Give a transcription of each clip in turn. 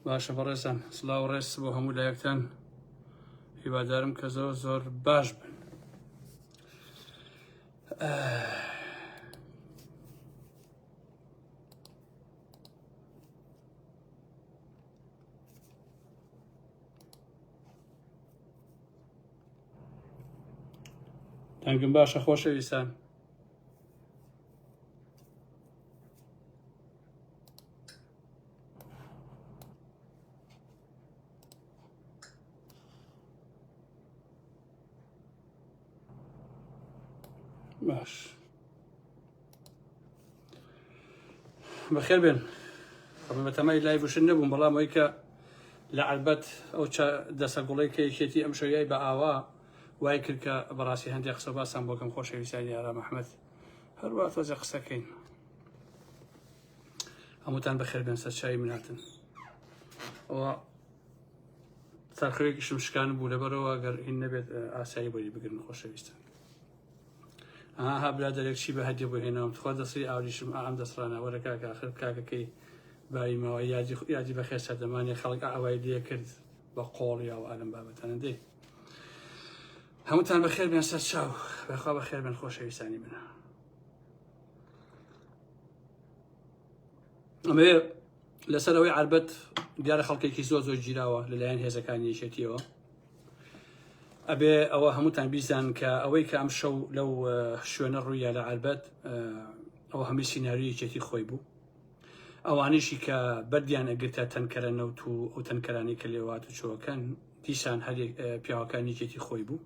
باشە بەڕێزان سلااو ڕێز بۆ هەموو لایەکتان هیوادارم کە زۆر زۆر باش بن دەنگم باشە خۆشەویستان باش بەخێر بێن بە تەمای لای بشن نەبووم بەڵام ئەوی کە لە عربەت ئەو دەسە گوڵی کە یەکێتی ئەم شەویای بە ئاوا وای کرد کە بەڕاستی هەندێک قسە باسان بۆکەم خۆشەویستانی ئارام ئەحمد هەروا تۆزە قسەکەین هەمووتان بەخێر بێن سەرچوی مناتن ئەوە سەرخەوێکی شمشکان بوو لەبەرەوە گەر هین نەبێت ئاسایی بۆی بگرن خۆشەویستن ئاها برا دەرێک چی بە هەدی بۆ هێناوم تخوا دەستی ئاوریشم ئام دەسڕانە وەرە کاکە خر کاکەکەی باوی ماوە یادی یادی بەخێر سەردەمانی خەڵک ئاوای لێ کرد بە قۆڵیەوە ئەلم بابەتەنە دێ هەمووتان بەخێر بێن سەر چاو بەخوا بەخێر بێن خۆشەویستانی من ئەمەوێ لەسەر ئەوەی عربەت دیارە خەڵکێکی زۆر زۆر گیراوە لەلایەن هێزەکانی یەکێتیەوە ئەبێ ئەوە هەمووتان بیزان کە ئەوەی کە ئەم شەو لەو شوێنە ڕوویە لە عربەت ئەوە هەمی سینناریو یەکێتی خۆی بوو ئەوانیشی کە بەردیان ئەگرتە تەنکەرە نەوت و ئەو تەنکەرانی کە لێوات و چۆکەن دیسان هەر پیاوەکانی جێتی خۆی بوو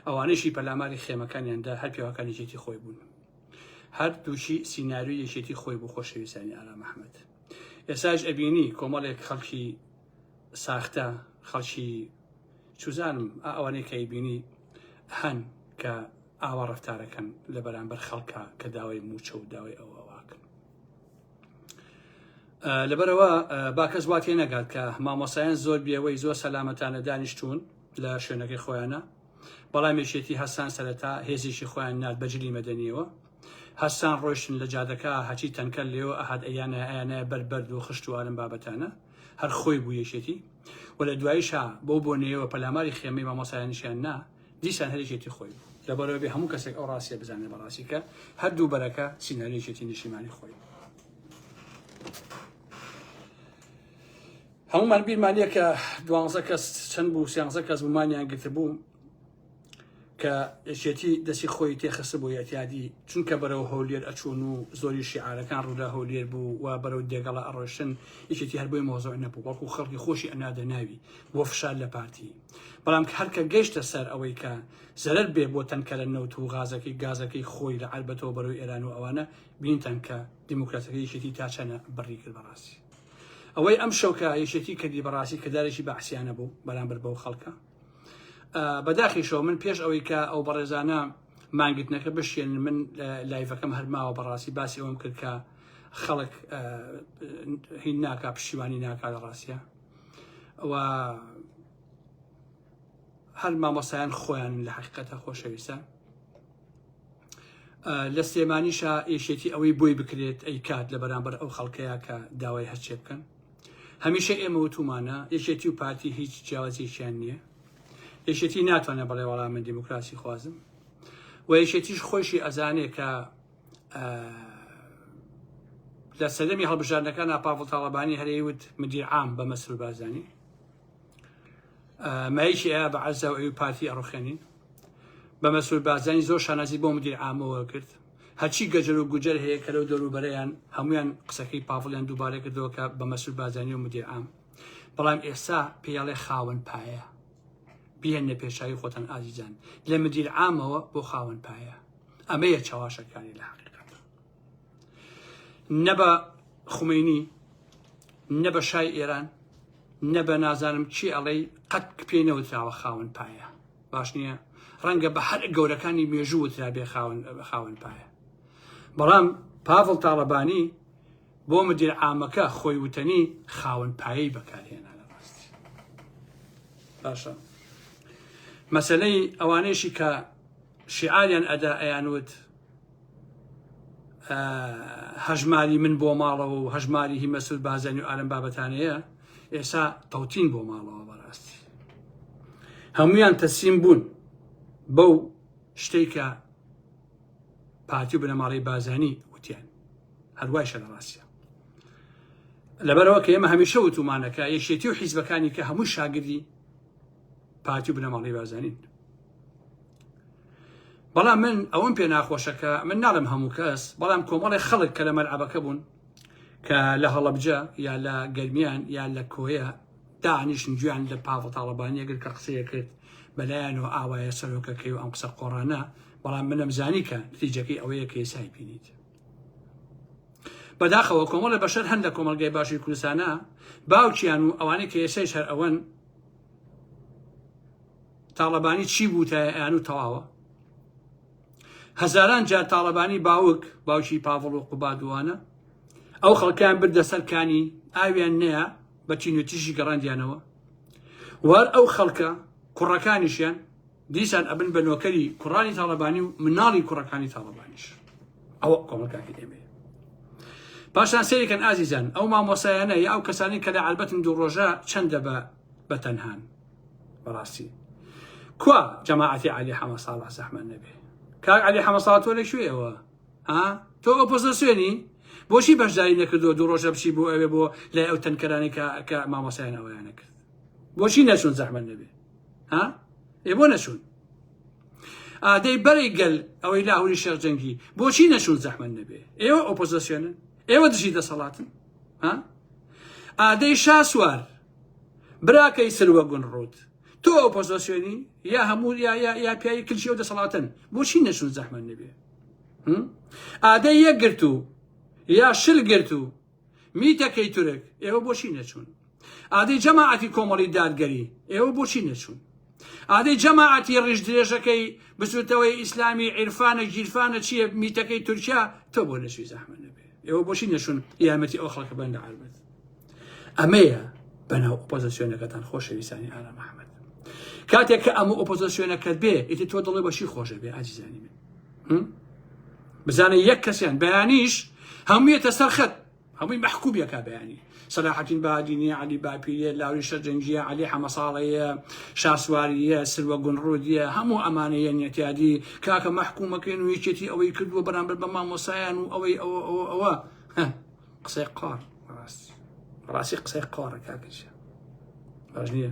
ئەوانیشی پەلاماری خێمەکانیاندا هەر پیاوەکانی جێتی خۆی بوون هەر دووچی سینناوی یەکێتی خۆی بوو خۆشەویستانی ئارام ئەحمد ئێساش ئەبینی کۆمەڵێک خەڵکی ساختە خەڵکی چوزانم ئەوانەی کە ئەیبینی هەن کە ئاوا ڕفتارەکەن لە بەرامبەر خەڵکە کە داوای موچە و داوای ئەوە لەبەرەوە باکەس وات هێ نەگات کە مامۆسایان زۆر بێوەی زۆر سەلامەتانە دانیشتون لە شوێنەکەی خۆیانە بەڵام یەکێتی هەستان سەرەتا هێزیشی خۆیان نات بەجلی مەدەنیەوە هەستان ڕۆشتن لە جادەکە هەچی تەنکە لێو ئەهات ئەیانە ئەیانە بەربەرد و خشت و ئارم بابەتانە هەر خۆی بوو یەکێتی و لە دوایشا بەو بۆنەیەوە پەلاماری خێمەی مامۆسایانیشیان نا، دیسان هەر یەکێتی خۆی بوو. لەبەرەوە بێ هەموو کەسێک ئەو ڕاستیە بزانێت بە ڕاستی کە هەر دوو بەرەکە سیناری یەکێتی نیشتیمانی خۆی بوو. هەمومان بیرمانە کە دوانزە کەس چەند بوو سیانزە کەس بوومانیان گرتبوو کە یەکێتی دەسی خۆی تێخست بۆ یەتیادی چونکە بەرەو هەولێر ئەچوون و زۆری شیعارەکان ڕوودا هەولێر بوو و بەرەو دێگەڵە ئەڕۆشتن یەکێتی هەر بۆی مۆزۆی نەبوو بەڵکو خەڵکی خۆشی ئەنادە ناوی بۆ فشار لە پارتی بەڵام هەرکە گەشتە سەر ئەوەی کە زەرەر بێ بۆ تەنکەرە نەوت و غازەکەی گازەکەی خۆی لە عربەتەوە بەرەو ئێران و ئەوانە بینتان کە دیموکراتەکە یەکێتی تا چەنە بڕی کرد بەڕاستی ئەوەی ئەم شەوکە یەکێتی کردی بەڕاستی کردارێکی بەعسیانە بوو بەرامبەر بەو خەڵکە بەداخیشەوە من پێش ئەوەی کە ئەو بەڕێزانە مانگرتنەکە بشێن من لایڤەکەم هەرماوە بەڕاستی باسی ئەوم کرد کە خەڵک هین ناکا پشیوانی ناکا لە ڕاستە و هەر مامۆسایان خۆیان لە حقیقەتە خۆشەویستە لە سلێمانیشە ئێشێتی ئەوەی بۆی بکرێت ئەی کات لە بەرامبەر ئەو خەڵکەیە کە داوای هەرچێ بکەن هەمیشە ئێمە وتومانە یەکێتی و پارتی هیچ جیاوازیەکیان نییە یەکێتی ناتوانێت بەڵێ وەڵام من دیموکراسی خوازم و یەکێتیش خۆشی ئەزانێ کە لە سەدەمی هەڵبژاردنەکان ئاپاڤڵ تاڵەبانی هەرەی وت مدیر عام بە مەسرور بازانی مایکی ئەیە بە عەزا و ئەوی پارتی ئەڕوخێنین بە مەسرور بازانی زۆر شانازی بۆ مدیر عامەوە کرد هەرچی گەجەر و گوجەر هەیە کە لەو دەوروبەرەیان هەموویان قسەکەی پاڤڵیان دووبارە کردەوە کە بە مەسرور بارزانی و مدیر عام بەڵام ئێستا پێڵێ خاوەن پایە بهێنە پێشاوی خۆتان ئازیزان لە مدیر عامەوە بۆ خاوەن پایە ئەمەیە چاواشەکانی لە حقیقەت نە بە خومینی نە بە شای ئێران نە بە نازانم چی ئەڵەی قەت پێی نەوتراوە خاون پایە باش نییە ڕەنگە بە هەر گەورەکانی مێژوو وترابێ خاون پایە بەڵام پاڤڵ تاڵەبانی بۆ مدیر عامەکە خۆی وتەنی خاون پایی بەکارهێنا لە ڕاستی باشە مەسلەی ئەوانەیشی کە شیعالیان ئەدا ئەیان وت هەژماری من بۆ ماڵەوە و هەژماری هی مەسود بازانی و ئارم بابەتانەیە ئێسا تەوتین بۆ ماڵەوە بەڕاستی هەمویان تەسیم بوون بەو شتێکە پارتی و بنەماڵی بازانی وتیان هەروای شە لە ڕاستە لەبەرەوە کە ئێمە هەمیشە وتومانەکە یەکێتی و حیزبەکانی کە هەموو شاگردی پارتی و بنەماڵەی بارزانین بەڵام من ئەوەم پێ ناخۆشەکە من ناڵم هەموو کەس بەڵام کۆمەڵی خەڵک کە لە مەلعبەکە بوون کە لە هەڵەبجە یا لە گەرمیان یا لە کۆیە دانیشن گویان لە پاڤ تاڵبانیەگر کە قسەیە کرد بەلایەنەوە ئاوایە سەرۆکەکەی و ئەم قسە قۆڕانە بەڵام منم زانی کە نتیجەکەی ئەوەیە کە ئێسای بینیت بەداخەوە کۆمەڵە بەشەر هەن لە کۆمەلگای باشی کوردستانە باوکیان و ئەوانەی کە ئێسای شەر ئەوەن تاڵەبانی چی بوو تا ئەیان و تەواوە هەزاران جار تاڵەبانی باوک باوکی پاڤڵ و قوبادوانە ئەو خەڵکیان بردە سەرکانی ئاویان نەیە بە چینوتیژی گەڕاندیانەوە وار ئەو خەڵکە کوڕەکانیشیان دیسان ئەبن بە نۆکەری کوڕانی تاڵەبانی و مناڵی کوڕەکانی تاڵەبانیش ئەوە کۆمەلگاکە ئێمەیە پاشان سێریکەن ئازیزان ئەو مامۆسایانە یا ئەو کەسانی کە لە عالبەتن دوو ڕۆژە چەندە بە بە تەنهان بەڕاستی کوا جەماعەتی علی حەمە ساڵح زەحمە نەبێ کاک علی حەمە ساڵ تۆ لە کوێەوە ها تۆ ئۆپۆزسیۆنی بۆچی بەشداری نەکردو دوو ڕۆژە بچی بۆ ئەوێ بۆ لای ئەو تەنکەرانی کە کە مامۆسایان ئەویانە کرد بۆچی نەچون زەحمە نەبێ ها ئێ بۆ نەچوون ئادەی بەرەی گەل ئەوەی لاهوری شێخ جەنگی بۆچی نەچوون زەحمن نەبێ ئێوە ئۆپۆزیسیۆنن ئێوە دژی دەسەڵاتن ها ئادەی شاسوار براکەی سروە گون ڕوت تۆ ئۆپۆزیسیۆنی یا هەموو یا یا یا پیاوی کلچی ئەو دەسەڵاتن بۆچی نەچوون زەحمن نەبێ ئادەی یەکگرتو یا شل گرتو میتەکەی تورک ئێوە بۆچی نەچوون ئادەی جەماعەتی کۆمەڵی دادگەری ئێوە بۆچی نەچوون ئادەی جەماعەتی ڕیژ درێژەکەی بزوتەوەی ئیسلامی عیرفانە گیرفانە چییە میتەکەی تورکیا تۆ بۆ نەچوی زەحمە نەبێ ئێوە بۆچی نەچوون یارمەتی ئەو خەڵکە بەندە عربەت ئەمەیە بەناو ئۆپۆزسیۆنەکەتان خۆشەویستانی ئارا محەممەد کاتێک کە ئەمە ئۆپۆزسیۆنەکەت بێ ئیتی تۆ دڵێ بەشی خۆشە بێ ئازیزانی من بزانە یەک کەسیان بەیانیش هەموویەتە سەر خەت هەمووی مەحکوبیەکە بەیانی سەلاحەتین بادینی علی باپیە لاوی شەرجەنگیە علی حەمەساڵەیە شاسواریە سروە گونڕودیە هەموو ئەمانەیە نێتیادی کاکە مەحکومەکەین و یەکێتی ئەوەی کردووە بەرامبەر بە مامۆسایان و ئەوەی ئەوە ئەوە ئەوە قسەی قار ڕاستی ڕاستی قسەی قارە کاکەشە باش نییە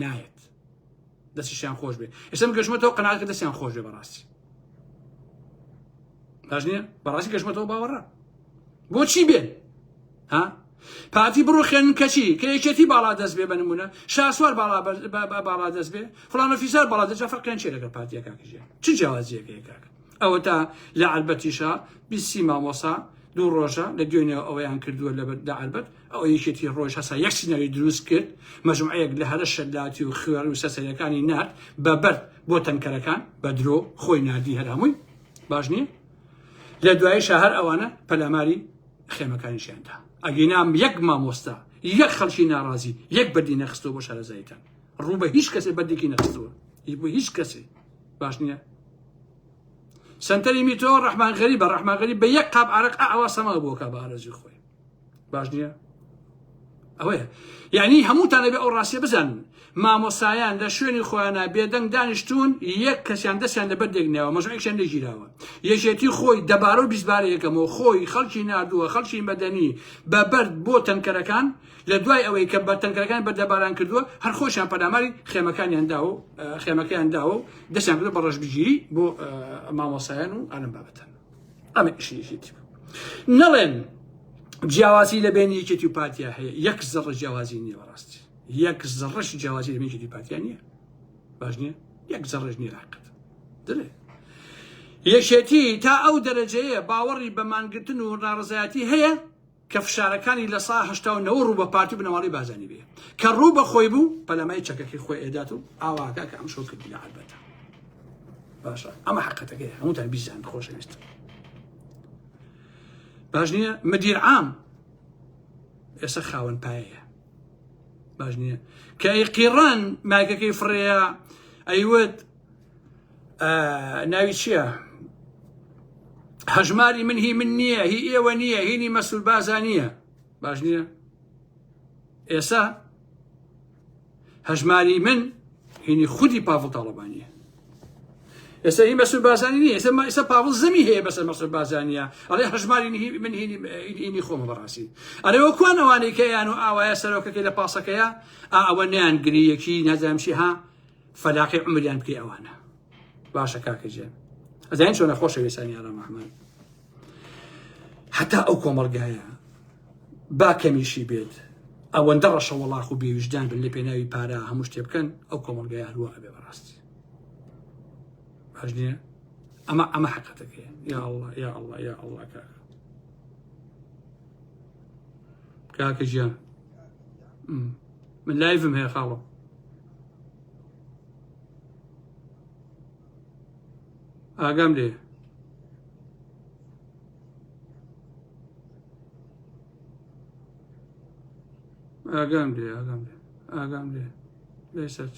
نایەت دەستیشیان خۆش بێ ئێسم گەشمەتەوە قەناکە دەستیان خۆش بێ بەڕاستی باش نییە بەڕاستی گەشمەتەوە باوەڕە بۆچی بێن ها پارتی بڕوخێن کەچی کە یەکێتی باڵا دەست بێ بنمونە شاسوار باڵا باڵا دەست بێ فلانە فیسار باڵا دەجا فەرقیان چێ لەگەڵ پارتیەکەکەژێ چ جیاوازیەکەکەکە ئەوە تا لە عربەتیشە بیسی مامۆسا دوو ڕۆژە لە دوێنێ ئەوەیان کردووە لە بەردا عربەت ئەوە یەکێتی ڕۆژ هەسا یەک سیناری دروست کرد مەجموعەیەک لە هەرە شەلاتی و خوێڕ و سەسەرەکانی نرد بە بەرد بۆ تەنکەرەکان بە درۆ خۆی نردی هەرامووی باش نییە لە دوایی شەهر ئەوانە پەلاماری خێمەکانیشیاندا ئەگەینام یەک مامۆستا یەک خەڵکی ناڕازی یەک بەدی نەخستەوە بۆ شارەزایتان ڕوو بە هیچ کەسێ بەدێکی نەخستەوە بۆ هیچ کەسێ باش نییە سنتەری میتۆ ڕحمان غەری بە ڕحماغەری بە یەک قاب عرق ئاوا سەما بۆکە بە ئارەزی خۆی باش نییە ئەوەیە یعنی هەمووتان لەبێ ئەو ڕاستیە بزانن مامۆسایان لە شوێنی خۆیانە بێدەنگ دانیشتون یەک کەسیان دەستیان لە بەردێک ناوە مەژەکشان لەگیراوە یەکێتی خۆی دەبارە و بیزبارە یەکەمەوە خۆی خەڵکی نردووە خەڵکی مەدەنی بە بەرد بۆ تەنکەرەکان لە دوای ئەوەی کە بە تەنکەکان بە دەباران کردووە هەر خۆشیان پەلاماری خێمەکانیان داوە خێمەکەیان داوە و دەستیان بە ڕژبگیری بۆ مامۆسایان و ئەلم بابەتەن ئەمە ئیشی یەکێتی بوو نەڵێن جیاوازی لە بین یەکێتی و پارتیا هەیە یەک زەڕە جیاوازی نییە بەڕاستی یەک زەڕەش جیاوازی لە بینێتی پارتیا نییە باش نییە یەک زەڕژ نیە لاقت دلێ یەکێتی تا ئەو دەرەجەیە باوەڕی بەمانگرتن و ناڕزایەتی هەیە کە فشارەکانی لە سا هەشتا و نەوە ڕوو بە پارتی و بنەماڵەی بازانی بێ کە ڕوو بە خۆی بوو پەلەمای چەکەکەی خۆی ئێدات و ئاواکە کە ئەم شۆ کردی لە عەربەتە باشە ئەمە حقەتەکەی هەمووتان بیزان خۆشەویست باش نییە مدیر عام ئێستا خاوەن پایەیە باش نییە کە ئەی قیڕان مایکەکەی فڕەیە ئەیوت ناوی چییە؟ هەژماری من هی من نییە هی ئێوە نییە هینی مەسول بازا نییە باش نییە ئێسا هەژماری من هینی خودی پاڤڵ تاڵەبانیە ئێستا هی مەسول بازانی نیە ئێستا ئێستا پاڤڵ زەمی هەیە بەسەر مەسول بازانە ئەڵێ هەژماری من هینی خۆم بەڕاستی ئەرێ وە کوان ئەوانەی کەیان و ئاوایە سەرۆکەکەی لە پاسەکەیە ئەوە نیان گریەکی نەزانشی ها فەلاقی عمریان بکەی ئەوانە باشە کاکە جێن ئەزانین چۆنە خۆشە وێسانی ئارام ئەحمد هەتا ئەو کۆمەڵگایە با کەمیشی بێت ئەوەندە ڕەشە وەڵاخ و بێویژدان بن لە پێناوی پارە هەموو شتێ بکەن ئەو کۆمەلگای هەروە ئەبێ بەڕاستی باش نییە ئەمە ئەمە حقەتەکەی یا الله یا الله یا الله کاکە کاکە ژیان من لایڤم هەیە خاڵۆ ئاگام لێ ئاگام لێ ئاگام لێ ئاگام لێ لێ سەرچ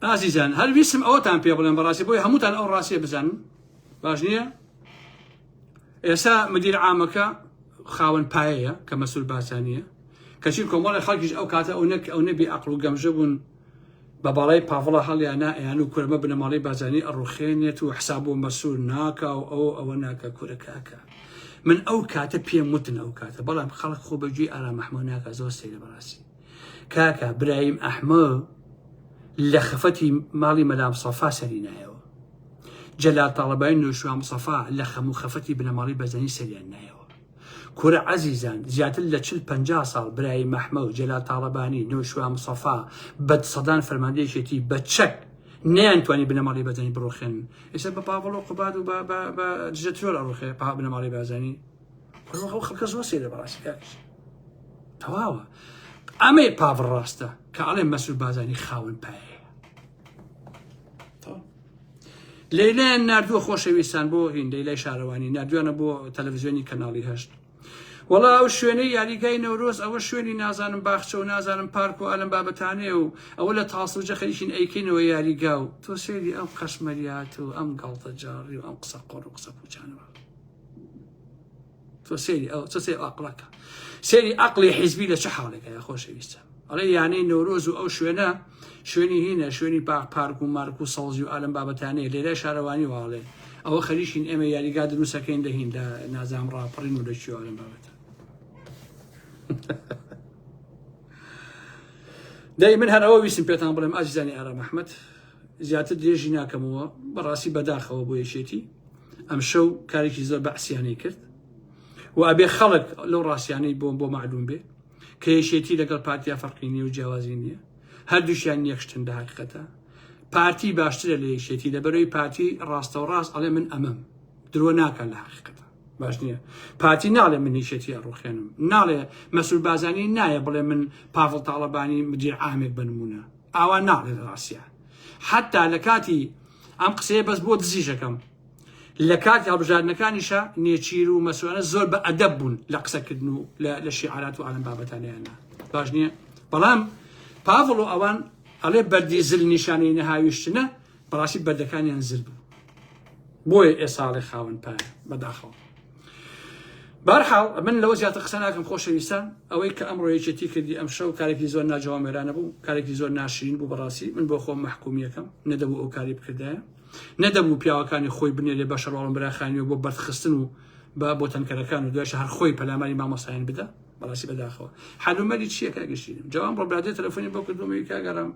ئازیزان هەر ویسم ئەوتان پێ بڵێن بەڕاستی بۆی هەمووتان ئەو ڕاستیە بزانن باش نییە ئێستا مدیر عامەکە خاوەن پایەیە کە مەسول بارزانیە کەچی کۆمەڵی خەڵکیش ئەو کاتە ئەو نەک ئەو نەبی ئەقل و گەمژە بوون بە باڵای پاڤڵە هەڵیانە ئەیان و کورمە بنەماڵی بازانی ئەڕوخێنێت و حساب و مەسول ناکا و ئەو ئەوە ناکە کورە کاکە من ئەو کاتە پێم وتن ئەو کاتە بەڵام خەڵک خۆ بەگوێی ئارام محمود ناکە زۆر سەیرە بەڕاستی کاکە برایم ئەحمە لە خەفەتی ماڵی مەلام سەفا سەری نایەوە جەلال تاڵەبای نوشوام سەفا لە خەموو خەفەتی بنەماڵی بەزەنی سەریان نایەوە کورە عەزیزان زیاتر لە چل پ ساڵ برای مەحمە و جەلا تاڵەبانی نوشوا مسەفا بە سەدان فەرماندەیەکێتی بە چەک نیان توانی بنەماڵی بەزنی بڕۆخێن ئێستا بە پاڤڵ و قوباد و دژە ترۆر ئەڕوخێ پا بنەماڵی بازانی بڕۆ ئەو خەڵکە زۆر سێرە بەڕاستی کاکش تەواوە ئەمەی پاڤڕ ڕاستە کە ئەڵێ مەسول بازانی خاون پایە لەیلایان نردووە خۆشەویستان بۆ هین لەیلای شارەوانی نردوانە بۆ تەلەڤزیۆنی کەناڵی هەشت وڵا ئەو شوێنەی یاریگای نەورۆز ئەوە شوێنی نازانم باخچە و نازانم پارک و ئەلم بابەتانێ و ئەوە لە تاسو جەخەریشین ئەیکەینەوە یاریگا و تۆ سێری ئەم قەشمەریات و ئەم گاڵتە جاڕی و ئەم قسە قۆڕ و قسە پوچانەوە تۆ سەیری ئەو چ سێ ئەقڵەکە سەیری ئەقلی حیزبی لە چه حاڵێکە یا خۆشەویستە ئەڵێ یانەی نەورۆز و ئەو شوێنە شوێنی هینە شوێنی پاک پارک و مارک و سەوزی و ئالم بابەتانەیە لێرە شارەوانی واڵێ ئەوە خەریشین ئێمە یاریگا دروستەکەین دەهین لە نازام ڕاپڕین و دەچی ئالم بابەتە دەی من هەر ئەوە ویستم پێتان بڵێم ئازیزانی ئارام ئەحمد زیاتر درێژی ناکەمەوە بەڕاستی بەداخەوە بۆ یەکێتی ئەم شەو کارێکی زۆر بەعسیانەی کرد و ئەبێ خەڵک لەو ڕاستیانەی بۆم بۆ معلوم بێ کە یەکێتی لەگەڵ پارتیا فەرقی نیە و جیاوازی نییە هەردووشیان نیەخشتن لە حقیقەتە پارتی باشترە لە یەکێتی لەبەرەوەی پارتی ڕاستە و ڕاست ئەڵێ من ئەمەم درۆ ناکەن لە حقیقەتە باش نییە پارتی ناڵێ من نیشێتی ئەڕوخێنم ناڵێ مەسول بازانی نایە بڵێ من پاڤڵ تاڵەبانی مدیر ئامێک بنمونە ئاوا ناڵێت ڕاستە حەتا لە کاتی ئەم قسەیە بەس بۆ دزیژەکەم لە کاتی هەڵبژاردنەکانیشە نێچیر و مەسوانە زۆر بە ئەدەب بوون لە قسەکردن و لە شیعرات و ئالم بابەتانیانە باش نییە بەڵام پاڤڵ و ئەوان ئەڵێ بەردی زل نیشانەی نەهاویشتنە بەڕاستی بەردەکانیان زل بوو بۆیە ئێساڵێ خاون پایە بەداخەوە بارحاڵ من لەوە زیاتر قسە ناکەم خۆشەویستان ئەوەی کە ئەمڕۆ یەکێتی کردی ئەم شەو کارێکی زۆر ناجوان مێرانە بوو کارێکی زۆر ناشرین بوو بەڕاستی من بۆ خۆم محکومیەکەم نەدەبوو ئەو کاری بکردایە نەدەبوو پیاوەکانی خۆی بنێرێ بە شەڕواڵم براخانیەوە بۆ بەرخستن و بە بۆ تەنکەرەکان و دوایش هەر خۆی پەلاماری مامۆسایان بدە بەڕاستی بەداخەوە حلومەری چیەکە گەشتینم جوان ڕۆبرادێ تەلەفۆنی بۆ کردومەوەی کاگەڕم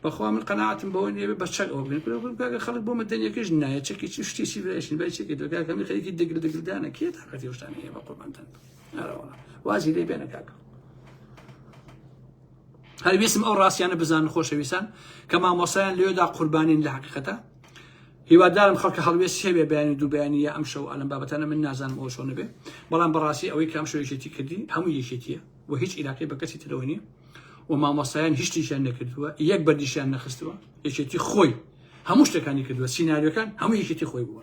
بەخوا من قەناتم بەوە نیە بە چەک ئەو بێنکە خەڵک بۆ مەدەنیەکەش نایە چەکی چ شتێکی برایشن بای چێکی دەکەمی خەریکی دەگر دەگردانە کێ تاقەتی شتان هەیە بە قوربانتان وازی لێ بێنە کاکە هەر ویسم ئەو ڕاستیانە بزان خۆشەویستان کە مامۆسایان لێدا قوربانین لە حقیقەتە هیوادارم خەڵکە هەڵوێست سێوێ بەیانی دووبیانیە ئەم شەو ئەلم بابەتانە من نازانم ئەو شۆنەبێ بەڵام بەڕاستی ئەوەی کام شوێژێتی کردی هەموو یەکێتیە و هیچ عیلاقی بە کەسی ترەوە نیە و مامۆستایان هیچ شتێکیان نەکردووە یەک بەردیشیان نەخستووە یەکێتی خۆی هەموو شتەکانی کردووە سینناریۆکان هەموو یەکێتی خۆی بووە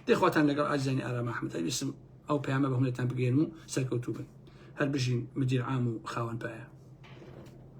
دەخواتان لەگەڵ ئازیزانی ئارام ئەحمەد ئەویسم ئەو پەیامە بە هەمووتان بگەێن و سەرکەوتوو بن هەر بژین مدیر عام و خاوەن پایە